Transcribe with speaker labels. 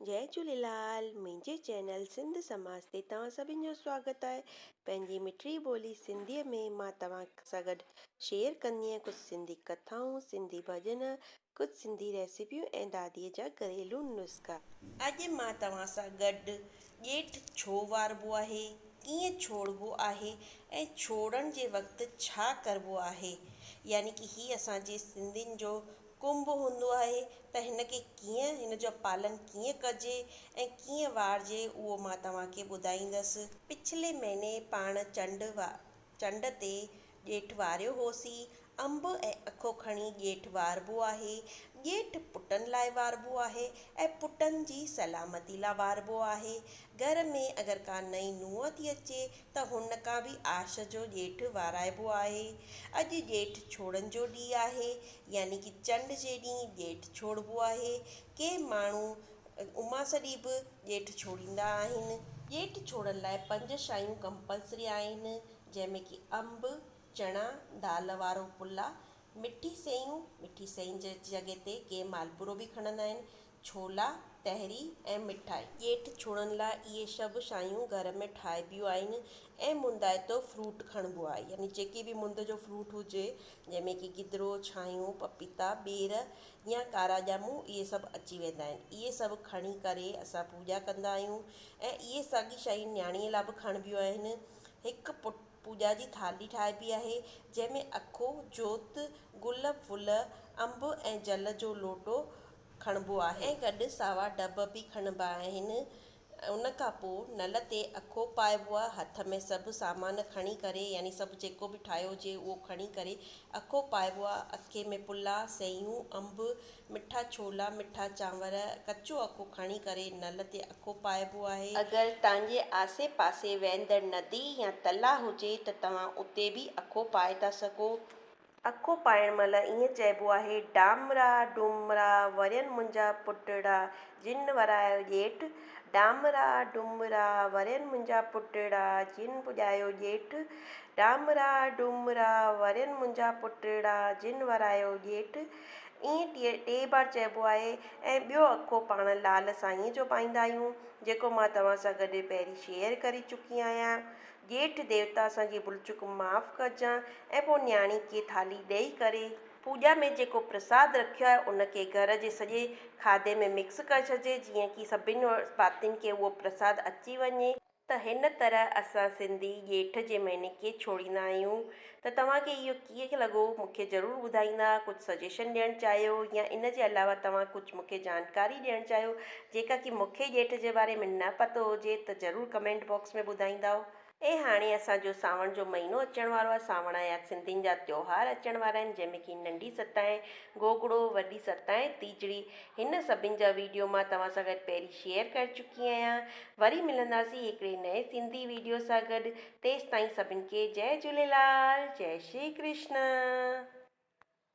Speaker 1: جئي جهوليلال منهنجي چينل سنڌ سماج تي توهان سڀن جو سواگت آهي پنهنجي مٺڙي ٻولي سنڌي ۾ مان توهان سان گڏ شيئر ڪندي آهيان ڪجهه سنڌي ڪٿائون سنڌي ڀڄن ڪجهه سنڌي ريسيپيون ۽ دادي جا گهريلو نسخا. اڄ مان توهان سان گڏ ڄيٺ ڇو واربو آهي ڪيئن ڇوڙبو آهي ۽ ڇوڙڻ جي وقت ڇا ڪربو آهي يعني ڪي هي اسان جي سنڌين جو ڪنڀ هوندو آهي ته هن کي ڪيئن، هن جو پالن ڪيئن ڪجي ۽ ڪيئن وارجي اهو مان توهان کي ٻڌائيندس. پڇلي مهيني پاڻ چنڊ چنڊ تي ڄيٺ واريو هوسين. انب ۽ اکو کڻي ڄيٺ واربو آهي. ڄيٺ پٽن لاء واربو آهي ۽ پٽن جي سلامتي لاء واربو آهي. گهر ۾ اگر ڪا نئين نونهن ٿي اچي ته هن کان به آش جو ڄيٺ وارائبو آهي. اڄ ڄيٺ ڇوڙن جو ڏينهن آهي، يعني ڪي چنڊ جي ڏينهن ڄيٺ ڇوڙبو آهي. ڪي ماڻهو اماس ڏينهن به ڄيٺ ڇوڙيندا آهن. ڄيٺ ڇوڙن لاء پنج شايون ڪمپلسري آهن، جنهن ۾ ڪي انب، چڻا، دال وارو پلا، مٺي سيئون، مٺي سيئن جي جڳهه تي ڪي مالپورو به کڻندا آهن، ڇولا، تهري ۽ مٺائي. ڄيٺ ڇوڙن لاء اهي سڀ شايون گهر ۾ ٺاهبيون آهن ۽ مندائتو فروٽ کڻبو آهي يعني جيڪي به مند جو فروٽ هجي جنهن ۾ ڪي گدرو، ڇانهيون، پپيتا، ٻير يا ڪارا ڄامون اهي سڀ اچي ويندا آهن اهي سڀ کڻي ڪري اسان پوڄا ڪندا آهيون ۽ اهي ساڳي شايون نياڻي لاء به کڻبيون آهن هڪ پٽ پوڄا جي ٿالهي ٺاهبي آهي، جنهن ۾ اکو، جوت، گل ڦل، انب ۽ جل جو لوٽو کڻبو آهي. ۽ گڏ ساوا ڊڀ به کڻبا آهن. ان کان پوء نل تي اکو پائبو آهي. هٿ ۾ سڀ سامان کڻي ڪري يعني سڀ جيڪو به ٺاهيو هجي اهو کڻي ڪري اکو پائبو آهي. اکي ۾ پلا، سيون، انب، مٺا ڇولا، مٺا چانور، ڪچو اکو کڻي ڪري نل تي اکو پائبو آهي. اگر توهان جي آسي پاسي وهندڙ ندي يا تلاء هجي ته توهان اتي به اکو پائي ٿا سگهو. اکو پائڻ مهل ائين چئبو آهي، ڊامرا ڊومرا ورين منهنجا پٽڙا، جن ورايو ڄيٺ. ڊامرا ڊومرا ورين منهنجا پٽڙا، جن پڄايو ڄيٺ. ڊامرا ڊومرا ورين منهنجا پٽڙا، جن ورايو ڄيٺ. ائين ٽي ٽي بار چئبو آهي ۽ ٻيو اکو پاڻ لعل سائينء جو پائيندا آهيون، جيڪو مان توهان سان گڏ پهرين شيئر ڪري چڪي آهيان. ڄيٺ ديوتا اسان جي ڀلچڪ معاف ڪجان ۽ پوء نياڻي کي ٿالهي ڏئي ڪري، پوڄا ۾ جيڪو پرساد رکيو آهي ان کي گهر جي سڄي کاڌي ۾ مڪس ڪري ڇڏجي، جيئن ڪي سڀني ڀاتين کي اهو پرساد اچي وڃي. ته هن طرح اسان سنڌي ڄيٺ جي مهيني ڪيئن ڇوڙيندا آهيون ته توهان کي اهو ڪيئن لڳو مون کي ضرور ٻڌائيندا ڪجهه سجيشن ڏيڻ چاهيو يا ان جي علاوه توهان ڪجهه مون کي جانڪاري ڏيڻ چاهيو جيڪا ڪي مون کي ڄيٺ جي باري ۾ نه پتو هجي ته ضرور ڪمينٽ باڪس ۾ ٻڌائيندائو. ۽ هاڻي اسان جو سانوڻ جو مهينو اچڻ وارو آهي سانوڻ آيا سنڌين جا تيوهار اچڻ وارا آهن جنهن ۾ ڪي ننڍي ستائين گوگڙو وڏي ستائين تيجڙي هن سڀين جا ويڊيو مان توهان سان گڏ پهرين شيئر ڪري چڪي آهيان وري ملنداسين هڪڙي نئين سنڌي ويڊيو سان گڏ تيستائين سڀن کي جئي جهوليلال جئي شري ڪرشن.